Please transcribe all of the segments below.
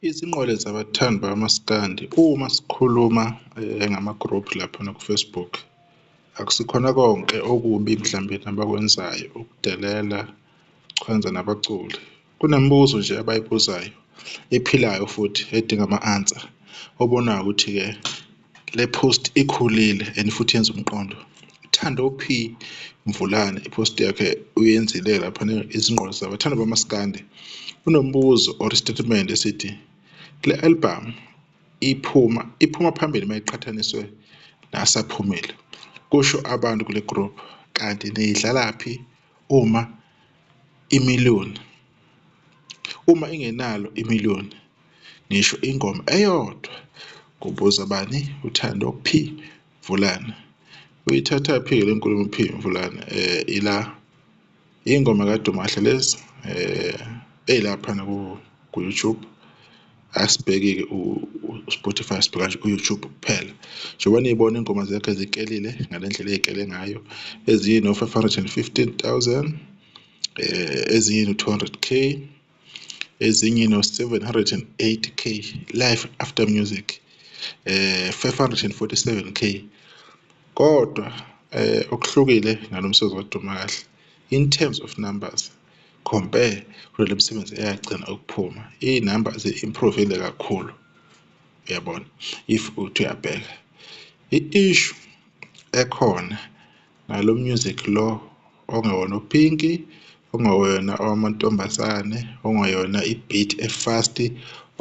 Izinqwele zabathandi bamaskandi uma sikhuluma eh, ngama-group laphana ku-Facebook akusikhona konke okubi mhlawumbe nabakwenzayo ukudelela chwenza nabaculi kunemibuzo nje abayibuzayo ephilayo futhi edinga ama-answer obonayo ukuthi-ke Le post ikhulile and futhi yenza umqondo. Thando P Mvulane ipost yakhe uyenzile lapha izingqondo zabo. Thando bamaskande. Unombuzo or statement esithi le album iphuma iphuma phambili mayiqhathaniswe nasaphumile. Kusho abantu kule group kanti niyidlalaphi uma imiliyoni uma ingenalo imiliyoni ngisho ingoma eyodwa kubuza bani uthando p vulana uyithatha phi le nkulumo p vulana eh ila ingoma kadumahle lezi eh eyilapha naku ku YouTube asibhekike u-Spotify sibheka nje u-YouTube kuphela njengoba niyibona ingoma zakhe zikelile ngale ndlela ey'kele ngayo ezinye no-515 000 um ezinye no-200 k ezinye no 708k life after music eh 547k kodwa eh okuhlukile ngalomsebenzi waduma kahle in terms of numbers compare kule msebenzi eyagcina ukuphuma iy'number zi-improvile kakhulu uyabona if uthi uyabheka i-issue ekhona Nalo music lo ongewona ophinki ongewona owamantombazane ongeyona i-beat e-fast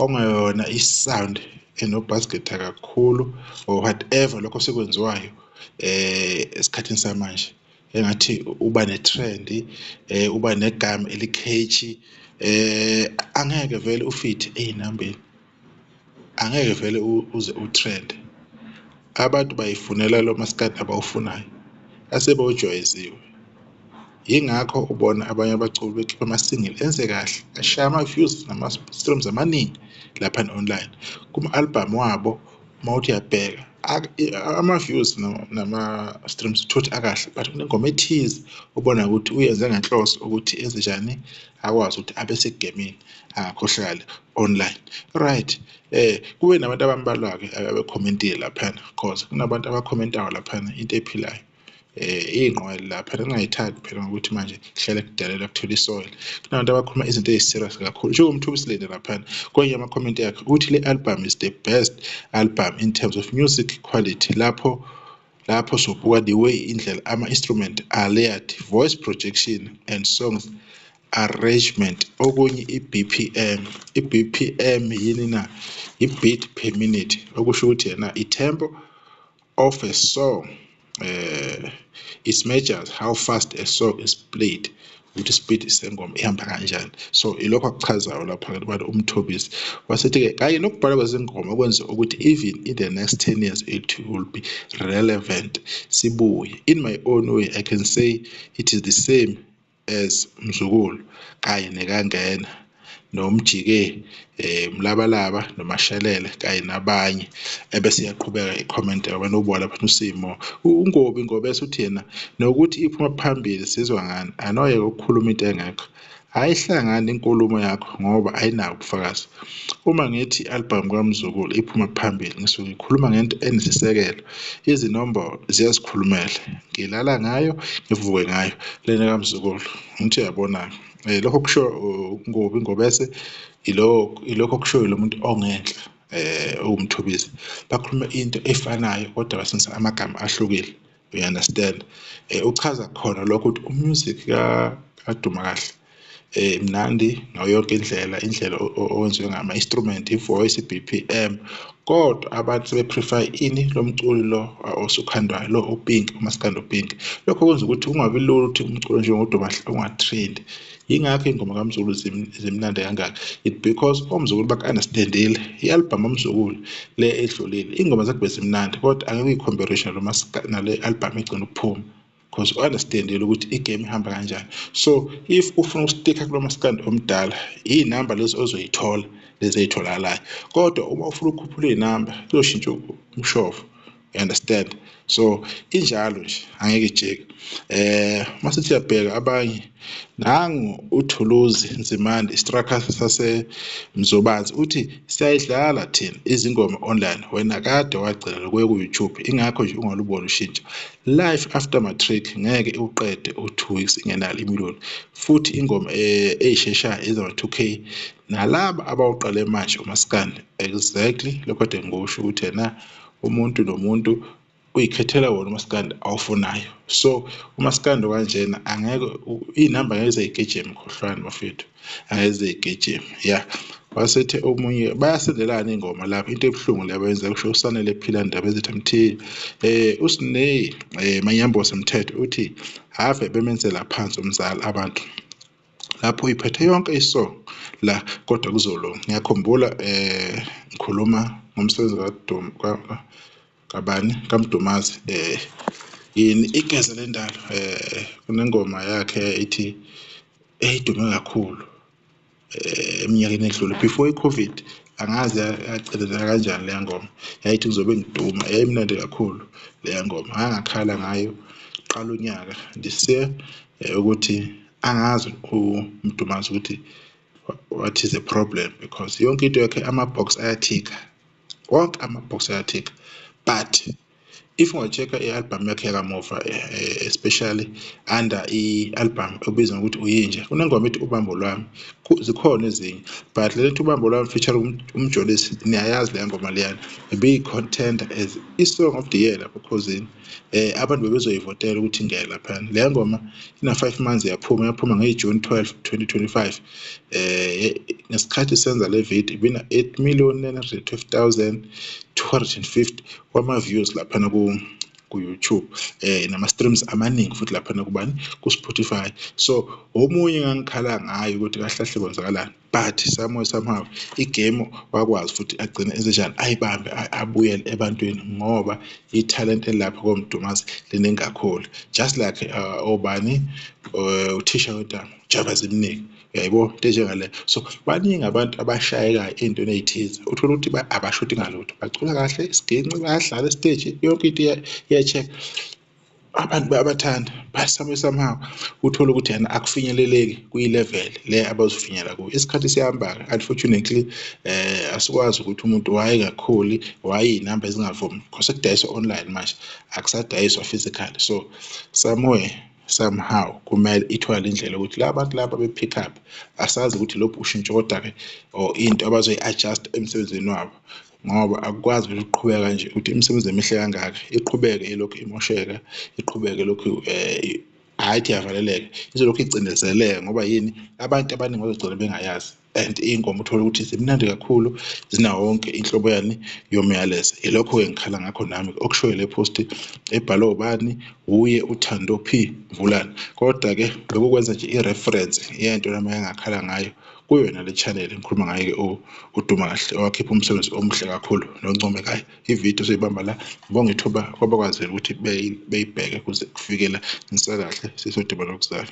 ongeyona i-sound eno-bass guitar kakhulu or whatever lokho osekwenziwayo eh esikhathini samanje engathi uba ne-trend eh uba negama elikheshi eh angeke vele ufithe ezinambeni. angeke vele uze utrend abantu bayifunela lo maskandi abawufunayo asebewujwayezile yingakho ubona abanye abaculi bekhipha ama-single enze kahle ashaya ama-views nama-streams amaningi lapha ne-online kuma-albhamu wabo uma uthi uyabheka ama-views nama-streams thothi akahle but kunengoma ethize ubona ukuthi uyenze ngenhloso ukuthi enzenjani akwazi ukuthi abe segemini angakhohlakali online right eh kube nabantu abambalwa-ke abekhomentile laphana cause kunabantu abakhomentayo laphana into ephilayo eh iyinqwele la phela ngingayithandi phela ngokuthi manje kuhlale kudalela kuthola isoil kunabantu abakhuluma izinto eziserious kakhulu njengo mthu usilinde lapha kwenye ama comment yakhe uthi le album is the best album in terms of music quality lapho lapho sobuka the way indlela ama instrument are layered voice projection and songs arrangement okunye i-BPM i-BPM yini na i-beat per minute okusho ukuthi yena i-tempo of a saw uh, it measures how fast a saw is played ukuthi speed sengoma ihamba kanjani so ilokho akuchazayo lapha ke abantu umthobisi wasethi-ke kanye nokubhala kwezingoma kwenza ukuthi even in the next 10 years it will be relevant sibuye in my own way i can say it is the same as Mzukulu kanye nekaNgena noMjike eh Mlabalaba noMashelele kanye nabanye ebese iyaqhubeka i-comment abantu ubona lapha uSimo ungobi ngoba esuthi yena nokuthi iphuma phambili sizwa ngani anoye ukukhuluma into engekho ayihlangani inkulumo yakho ngoba ayinawo ubufakazi uma ngithi i-album kaMzukulu iphuma phambili ngisuke ngikhuluma ngento enesisekelo Izinombolo ziyazikhulumela. Ngilala ngayo, ngivuke ngayo lena kamzukulu. Ngithi uyabona-ke. Eh, lokho kusho ngobi ngobese ilokho okushoyo lo muntu ongenhla eh uwumthobisi bakhuluma into efanayo kodwa basebenzisa amagama ahlukile you understand eh uchaza khona lokho ukuthi umusic ka aduma kahle eh imnandi ngayo yonke indlela indlela owenziwe ngama instrument ivoice iBPM kodwa abantu sebeprefer ini lomculi lo osukhandwayo lo uPink umaskando Pink lokho kwenza ukuthi kungabi lula ukuthi umculo nje ngoduba ungatrend yingakho ingoma kaMzulu zimnandi kangaka it because omzukulu baka-understandile i-albhamu omzukulu le edlulile ingoma zakube zimnandi kodwa angeke uyikhombe nale albhamu egcina ukuphuma because u-understandile ukuthi igame ihamba kanjani so if ufuna ukustika kulo maskandi omdala iy'namba lezi ozoyithola lezi ey'tholakalayo kodwa uma ufuna ukukhuphula iy'namba kuyoshintsha umshovo you understand so injalo nje angeke ijike um uma sithi uyabheka abanye Nangu uThuluzi Nzimande iStraka saseMzobansi uthi siyayidlala thina izingoma online wena kade wagcina lokuya ku-YouTube ingakho nje ungaluboni ushintsho. Life after matric ngeke iwuqede u-two weeks ingenalo imiluni futhi ingoma eh, eyisheshayo ezama-2K nalaba abawuqale manje umaskandi exactly lokho kade ngikusho ukuthi yena umuntu nomuntu uyikhethela wona umaskandi awufunayo so umaskandi okanjena angeke iy'namba ngeke zeyigejeme khohlwani bafethu angeke zeyigejeme ya wasethe omunye bayasendelana ingoma lapho into ebuhlungu le abayenza kusho usanele phila ndaba ezithi mthile eh usineyi um eh, manyambose mthetho uthi have bemenzela phansi umzali abantu lapho iphethe yonke isong la kodwa kuzolunga ngiyakhumbula um ngikhuluma ngomsebenzi kadum kabani kaMdumazi eh yini igeza lendalo eh kunengoma yakhe ithi eyidume kakhulu eh, eminyakeni edlule before i-covid angazi yacelezela kanjani leya ngoma yayithi ngizobe ngiduma yayimnandi kakhulu leya ngoma angakhala ngayo qala unyaka ndise eh, ukuthi angazi umdumazi ukuthi what is the problem because yonke into yakhe ama-box ayathika wonke ama-box ayathik but if unga-check-a i-albhamu yakhe yakamuva eh, eh, especially under i-albhamu obizwa ngokuthi uyinja kunengoma ethi ubambo lwami zikhona ezinye but le nto ubambo lwami feature um, umjolisi niyayazi leya ngoma leyana beyi-contender as i-song of the year lapho khozini eh abantu bebezoyivotela ukuthi ingene laphana le ngoma ina 5 months yaphuma yaphuma nge June 12 2025 eh ngesikhathi senza le video ibina 8 million 912250 kwama views laphana ku ku YouTube eh nama streams amaningi futhi laphana kubani ku Spotify so omunye ngangikhala ngayo ukuthi kahlahle kwenzakalani but somewhere somehow igame wakwazi futhi agcine ezenjani ayibambe abuyele ebantwini ngoba ithalente lapho komdumazi liningi kakhulu just like uh, obani uh, uthisha wetama jaba zimningi yaybo into enjengale so baningi abantu abashayekayo ey'ntweni ey'thize uthole ukuthi abashodi ngalutho bacula kahle isiginci bayadlala esiteji yonke into iya-check abantu bayabathanda basame somehow uthole ukuthi yena akufinyeleleki kwi-level le abazofinyela kuyo isikhathi siyahamba-ke unfortunately eh asikwazi ukuthi umuntu wayengakhuli wayeyinamba ezingavumi because sekudayiswa online manje akusadayiswa physical so somewhere somehow kumele ithwale indlela ukuthi la bantu laba be-pick up asazi ukuthi lobhu ushintsho kodwa-ke or into abazoyi-adjust emsebenzini wabo ngoba akukwazi ukuthi uqhubeka kanje ukuthi imisebenzi emihle kangaka iqhubeke ilokhu imosheka iqhubeke lokhu um eh, hhayi ithi yavaleleka izolokhu icindezeleka ngoba yini abantu abaningi bazogcina bengayazi and iy'nkomo uthole ukuthi zimnandi kakhulu zinawo wonke inhlobo yani yomyalezo ilokho-ke ngikhala ngakho nami okushoyo le posti ebhalwe ubani wuye uthando p mvulane kodwa-ke bekukwenza nje i-reference yento nami engakhala ngayo kuyona le channel ngikhuluma ngayo ke uduma kahle owakhipha umsebenzi omuhle kakhulu noncomekayo ivideo soyibamba la ngibonga ithuba kwabakwazile ukuthi beyibheke kuze kufikela ngisakahle sisodima lokuzala